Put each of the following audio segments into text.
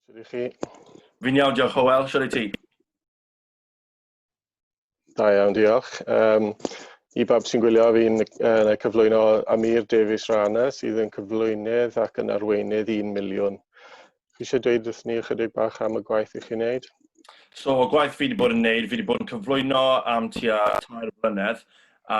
Sut i chi? Fi'n iawn, diolch Howell. Siwr i ti? Da iawn, diolch. Um, I bawb sy'n gwylio, fi'n uh, cyflwyno Amir Davies Rana, sydd yn cyflwynydd ac yn arweinydd 1 miliwn. chi eisiau dweud wrth ni ychydig bach am y gwaith i chi'n wneud? So, y gwaith fi wedi bod yn wneud, fi wedi bod yn cyflwyno am tua tair blynedd, a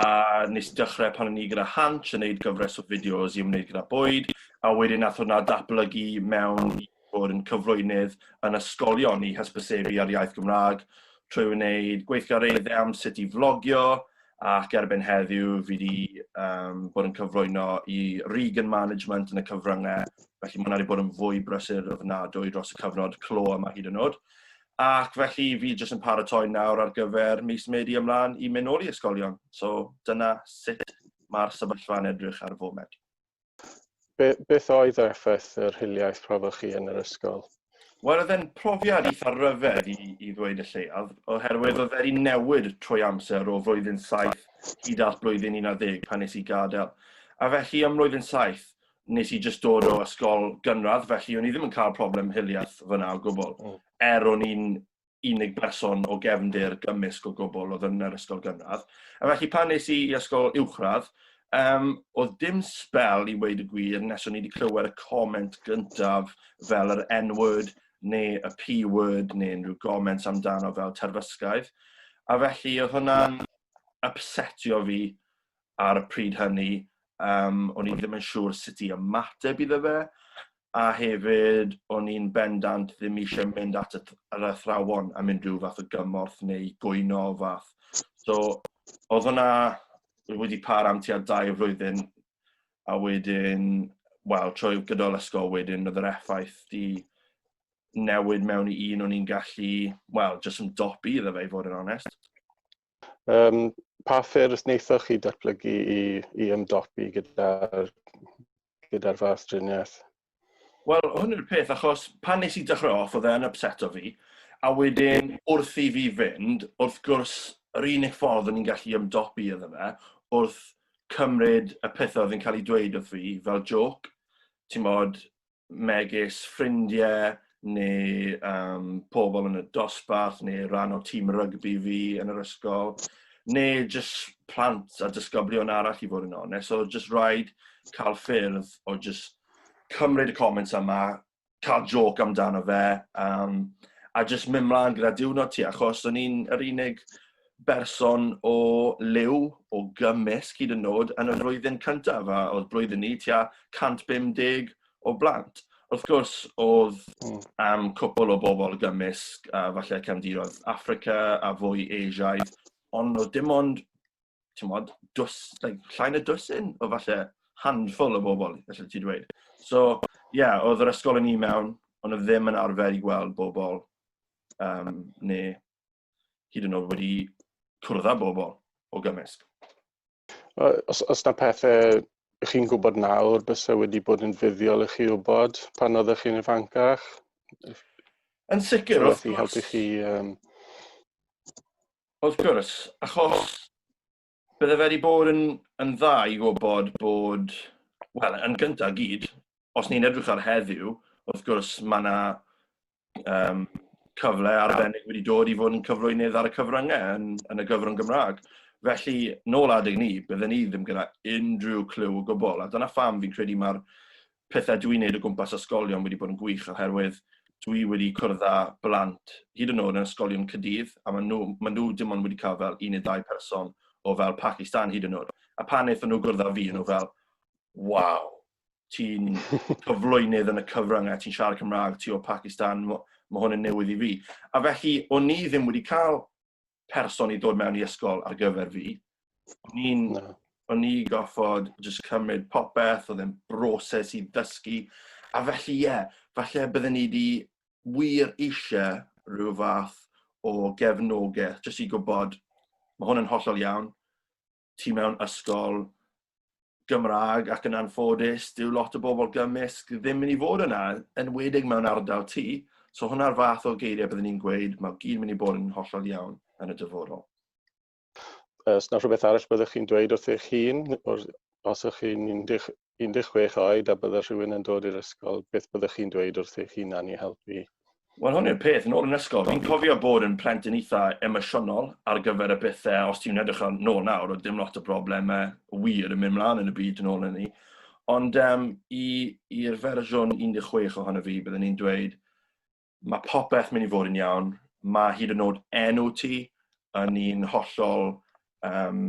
nes i dechrau pan o'n i gyda Hanch yn gwneud gyfres o fideos i ymwneud gyda bwyd, a wedyn nath hwnna datblygu mewn i bod yn cyflwynydd yn ysgolion i hysbysebu ar iaith Gymraeg, trwy wneud gweithgareddau am sut i flogio, ac erbyn heddiw fi wedi um, bod yn cyflwyno i Regan Management yn y cyfryngau, felly mae'n wedi bod yn fwy brysur ofnadwy dros y cyfnod clo yma hyd yn oed. Ac felly fi jyst yn paratoi nawr ar gyfer mis Medi ymlaen i mynd nôl i ysgolion. So dyna sut mae'r sefyllfa'n edrych ar y foment. Be, beth oedd yr effaith yr hiliaeth profodd chi yn yr ysgol? Wel, oedd e'n profiad eitha ryfedd i, i ddweud y lleiaf, oherwydd oedd wedi newid trwy amser o flwyddyn 7 hyd at blwyddyn 11 pan nes i gadael. A felly ym mlwyddyn 7 nes i jyst dod o ysgol gynradd, felly o'n i ddim yn cael problem hiliaeth fyna o gwbl, mm. er o'n i'n unig berson o gefndir gymysg o gwbl oedd yn yr ysgol gynradd. A felly pan nes i i ysgol uwchradd, um, oedd dim sbel i weid y gwir nes o'n i wedi clywed y comment gyntaf fel yr N-word neu y P-word neu unrhyw comments amdano fel terfysgaidd. A felly oedd hwnna'n upsetio fi ar y pryd hynny yym o'n i ddim yn siŵr sut i ymateb iddo fe a hefyd o'n i'n bendant ddim eisiau mynd at y th- yr athrawon a mynd rhyw fath o gymorth neu gwyno o fath. So o'dd hwnna wedi para am tua dau flwyddyn a wedyn wel trwy gydol ysgol wedyn o'dd yr effaith 'di newid mewn i un o'n i'n gallu wel jyst ymdopi iddo fe i fod yn onest. Um, pa ffyrdd wnaethoch chi datblygu i, i ymdopi gyda'r gyda fath driniaeth? Wel, hwn yw'r peth, achos pan nes i dechrau off, oedd e'n upset o fi, a wedyn wrth i fi fynd, wrth gwrs, yr unig ffordd o'n i'n gallu ymdopi iddo fe, wrth cymryd y pethau oedd yn cael ei dweud wrth fi fel joc, ti'n modd, megis ffrindiau neu um, pobl yn y dosbarth neu rhan o tîm rygbi fi yn yr ysgol neu jyst plant a dysgoblion arall i fod yn onest. So jyst rhaid cael ffyrdd o jyst cymryd y comments yma, cael joc amdano fe, um, a jyst mynd mlaen gyda diwrnod ti, achos o'n i'n yr unig berson o liw, o gymysg hyd yn nod, yn y flwyddyn cyntaf, a oedd blwyddyn ni tua 150 o blant. Wrth gwrs, oedd hmm. am cwpl o bobl gymysg, a falle cefndiroedd Africa a fwy Asiaidd, ond oedd dim ond, ti'n modd, dws, like, llain y dwysyn o falle handful o bobl, felly ti dweud. So, ie, yeah, oedd yr ysgol yn un mewn, ond oedd ddim yn arfer i gweld bobl, um, neu hyd yn oed wedi cwrdd â bobl o gymysg. Os, os na pethau ych chi'n gwybod nawr, bys e wedi bod yn fuddiol i chi wybod pan oeddech chi'n ifancach? Yn sicr, wrth gwrs. helpu chi... Um... Wrth gwrs, achos Bydde fe wedi bod yn, yn dda i wybod bod, wel, yn gyntaf gyd, os ni'n edrych ar heddiw, wrth gwrs mae yna um, cyfle arbennig wedi dod i fod yn cyflwynydd ar y cyfryngau yn, yn y gyfrwng Gymraeg. Felly, nôl adeg ni, bydden ni ddim gyda unrhyw clyw o gwbl, a dyna pham fi'n credu mae'r pethau dwi'n neud o gwmpas ysgolion wedi bod yn gwych oherwydd dwi wedi cwrdd â blant hyd yn oed yn ysgolion cydydd a maen nhw, maen nhw dim ond wedi cael fel un neu ddau person o fel Pakistan hyd yn oed. A pan wnaethon nhw gwrdd â fi, nhw fel, waw, ti'n cyflwynydd yn y cyfrwng a ti'n siarad Cymraeg, ti o Pakistan, mae hwn yn newydd i fi. A felly, o'n i ddim wedi cael person i dod mewn i ysgol ar gyfer fi. O'n i'n... No. O'n i goffod just cymryd popeth, oedd e'n broses i ddysgu. A felly, ie, yeah, falle bydden ni wedi wir eisiau rhyw fath o gefnogaeth, jyst i gwybod, mae hwn yn hollol iawn, ti mewn ysgol Gymraeg ac yn anffodus, dyw lot o bobl gymysg ddim mynd i fod yna, yn wedig mewn ardal ti. So hwnna'r fath o geiriau byddwn ni'n gweud, mae gyd mynd i bod yn hollol iawn yn y dyfodol. Os na rhywbeth arall byddwch chi'n dweud wrth eich hun, os ych chi'n 11 16 oed a bydde rhywun yn dod i'r ysgol, beth byddech chi'n dweud wrth eich hunan i helpu? Wel, hwn yw'r peth, yn ôl yn ysgol, fi'n cofio bod yn plentyn eitha emosiynol ar gyfer y pethe, os ti'n edrych ar nôl nawr, oedd dim lot o brobleme wir yn mynd mlaen yn y byd yn ôl yn ni. Ond um, i'r fersiwn 16 ohono fi, byddwn i'n dweud, mae popeth mynd i fod yn iawn. Mae hyd yn oed enw ti yn un hollol um,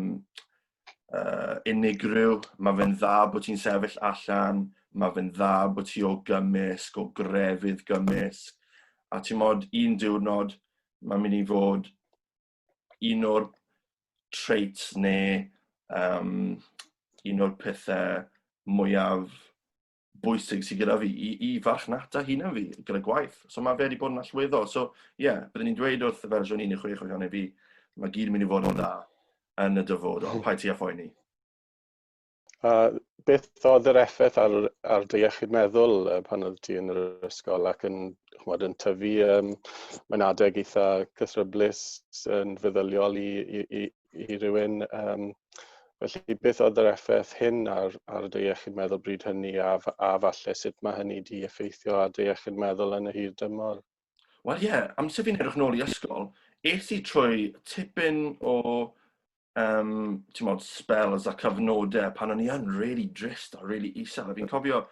uh, unigryw. Mae fe'n dda bod ti'n sefyll allan, mae fe'n dda bod ti o gymysg, o grefydd gymysg. A ti'n modd un diwrnod, mae'n mynd i fod un o'r traits neu um, un o'r pethau mwyaf bwysig sydd gyda fi i, i farchnata hunan fi gyda gwaith. So mae fe wedi bod yn allweddol. So ie, yeah, byddwn ni'n dweud wrth y fersiwn 16 o'i haneb i, mae gyd yn mynd i fod yn dda yn y dyfodol, hmm. pa'i ti a phoeni. A beth oedd yr effaith ar, ar dy iechyd meddwl pan oedd ti yn yr ysgol ac yn, chmod, yn tyfu um, mae'n adeg eitha cythryblus yn feddyliol i, i, i, i rywun. Um, felly, beth oedd yr effaith hyn ar, ar dy iechyd meddwl bryd hynny a, a falle sut mae hynny di effeithio ar dy iechyd meddwl yn y hir dymor? Wel ie, yeah, amser fi'n edrych nôl i ysgol, es i trwy tipyn o um, mod, spells a cyfnodau pan o'n i yn really drist a really isel. A fi'n cofio,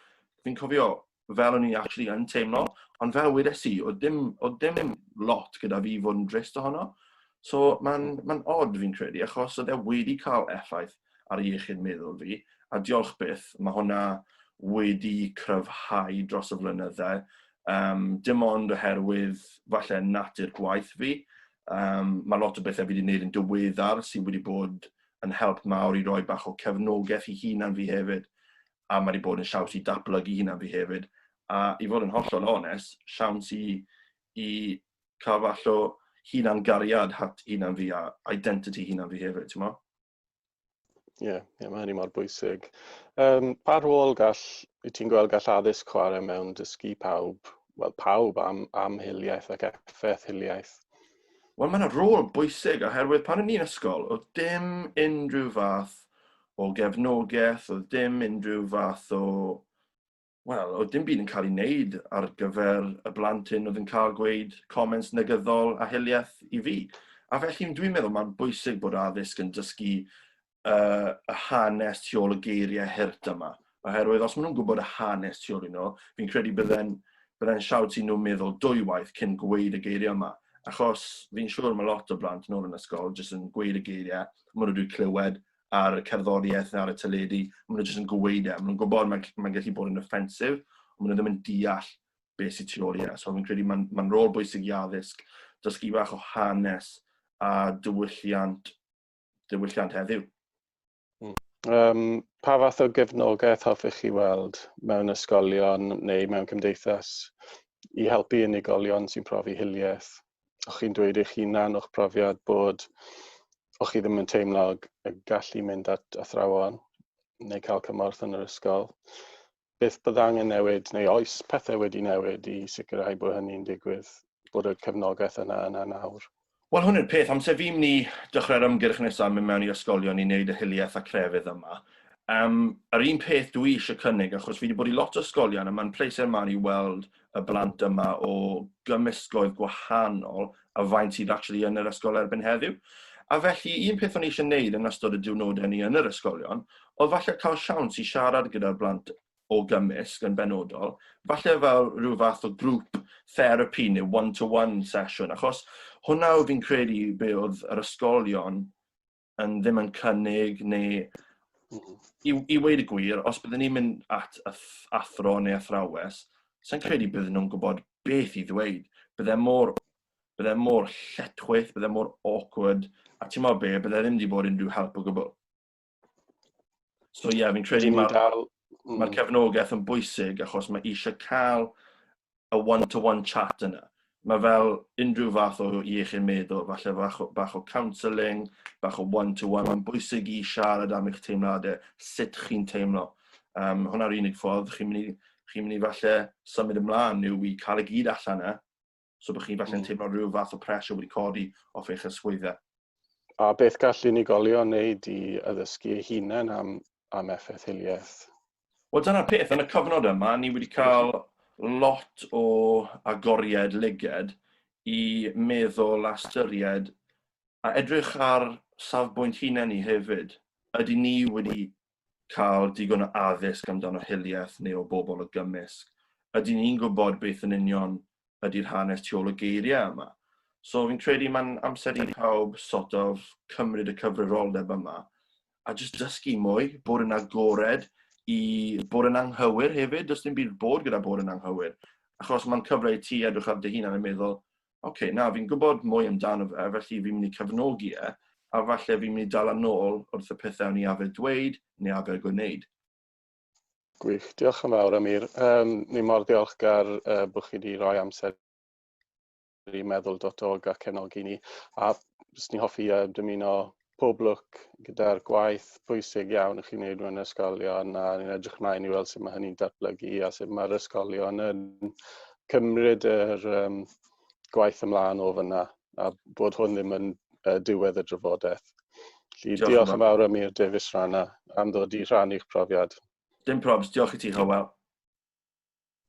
fi cofio fel o'n i actually yn teimlo, ond fel wedes i, oedd dim, oedd dim lot gyda fi fod yn drist ohono. So mae'n ma odd fi'n credu, achos oedd e wedi cael effaith ar iechyd meddwl fi, a diolch byth, mae hwnna wedi cryfhau dros y flynyddau, um, dim ond oherwydd falle natur gwaith fi, um, mae lot o bethau fi wedi gwneud yn dyweddar sydd wedi bod yn help mawr i roi bach o cefnogaeth i hunan fi hefyd. a mae 'di bod yn siawns i datblygu hunan fi hefyd, a i fod yn hollol onest, siawns i i cael fath o hunan-gariad at hunan fi a identity hunan fi hefyd, ti'n mo? Ie, yeah, yeah, mae hynny mor bwysig. Um, pa rôl gall, i ti'n gweld gall addysg chwarae mewn dysgu pawb, wel pawb am, am hiliaeth ac effaith hiliaeth? Wel, mae'n rôl bwysig oherwydd pan o'n ni'n ysgol, oedd dim unrhyw fath o gefnogaeth, oedd dim unrhyw fath o... Wel, oedd dim byd yn cael ei wneud ar gyfer y blant hyn oedd yn cael gweud comments negyddol a hiliaeth i fi. A felly dwi'n meddwl mae'n bwysig bod addysg yn dysgu uh, y hanes tu ôl y geiriau hurt yma. Oherwydd os maen nhw'n gwybod y hanes tu ôl i nhw, fi'n credu bydden, bydden siawt i nhw'n meddwl dwywaith cyn gweud y geiriau yma. Achos fi'n siŵr mae lot o blant yn ôl yn ysgol jyst yn gweud y geiriau, maen nhw wedi clywed ar y cerddoriaeth neu ar y teledu, maen nhw jyst yn gweud e, maen nhw'n gwybod mae'n mae gallu bod yn offensif, ond maen nhw ddim yn deall beth sydd tu ôl i e. So fi'n credu mae'n ma rôl bwysig i addysg, dysgu bach o hanes a diwylliant, diwylliant heddiw. Um, pa fath o gefnogaeth hoffech chi weld mewn ysgolion neu mewn cymdeithas i helpu unigolion sy'n profi hiliaeth? o'ch chi'n dweud eich hunan o'ch profiad bod o'ch chi ddim yn teimlo y gallu mynd at athrawon neu cael cymorth yn yr ysgol. Beth bydd angen newid neu oes pethau wedi newid i sicrhau bod hynny'n digwydd, bod y cefnogaeth yna yna nawr? Wel, hwn yw'r peth. Amser fi'n mynd i dechrau'r ymgyrch nesaf mynd mewn i ysgolion i wneud y hiliaeth a crefydd yma. Um, yr un peth dwi eisiau cynnig, achos fi wedi bod i lot o ysgolion a mae'n pleser mawr i weld y blant yma o gymysgloedd gwahanol a faint sydd actually yn yr ysgol erbyn heddiw. A felly, un peth o'n i eisiau gwneud yn ystod y diwrnodau ni yn yr ysgolion, oedd falle cael siawns i siarad gyda'r blant o gymysg yn benodol, falle fel rhyw fath o grŵp therapi neu one-to-one sesiwn, achos hwnna oedd fi'n credu be oedd yr ysgolion yn ddim yn cynnig neu mm-hmm. i, i weid y gwir, os byddwn ni'n mynd at athro neu athrawes, sy'n credu byddwn nhw'n gwybod beth i ddweud. Byddai mor, bydde mor lletchwaith, byddai mor awkward, a ti'n meddwl be, byddai ddim wedi bod unrhyw help o gwbl. So ie, yeah, fi'n credu mae'r ma mm. cefnogaeth yn bwysig achos mae eisiau cael y one to one chat yna. Mae fel unrhyw fath o iechyd meddwl, falle fach o, bach o counselling, bach o one to one, mae'n bwysig i siarad am eich teimladau, sut chi'n teimlo. Um, hwnna'r unig ffordd chi'n mynd i, chi'n mynd i falle symud ymlaen yw i cael y gyd allan yna, so bod chi'n falle'n mm. teimlo rhyw fath o pressure wedi codi off eich ysgwyddau. A beth gall unigolion wneud i addysgu eu hunain am, am effaith hiliaeth? Wel, dyna'r peth. Yn y cyfnod yma, ni wedi cael lot o agoriad lyged i meddwl a styried a edrych ar safbwynt hunain ni hefyd. Ydy ni wedi cael digon o addysg amdano hiliaeth neu o bobl o gymysg? Ydy ni'n gwybod beth yn union ydy'r hanes tu ôl y geiriau yma? So fi'n credu mae'n amser i pawb sort of cymryd y cyfrifoldeb yma a jyst dysgu mwy, bod yn agored i bod yn anghywir hefyd, does dim byd bod gyda bod yn anghywir. Achos mae'n cyfle i ti edrych ar dy hun a'n meddwl, oce, okay, na, fi'n gwybod mwy amdano fe, felly fi'n mynd i cyfnogi e, a falle fi'n mynd i dal yn ôl wrth y pethau o'n i afer dweud neu afer gwneud. Gwych, diolch yn fawr Amir. Um, ni mor ddiolchgar uh, bod chi wedi rhoi amser i meddwl dotog a cefnogi ni. A jyst ni'n hoffi uh, dymuno pob lwc gyda'r gwaith bwysig iawn ych chi'n gwneud mewn ysgolion a ni'n edrych mlaen i weld sut mae hynny'n datblygu a sut mae'r ysgolion yn cymryd yr um, gwaith ymlaen o fyna a bod hwn ddim yn uh, diwedd y drafodaeth. Felly, diolch, diolch yn fawr am i'r Davies Rana am ddod i rhannu'ch profiad. Dim probs, diolch i ti, Hywel.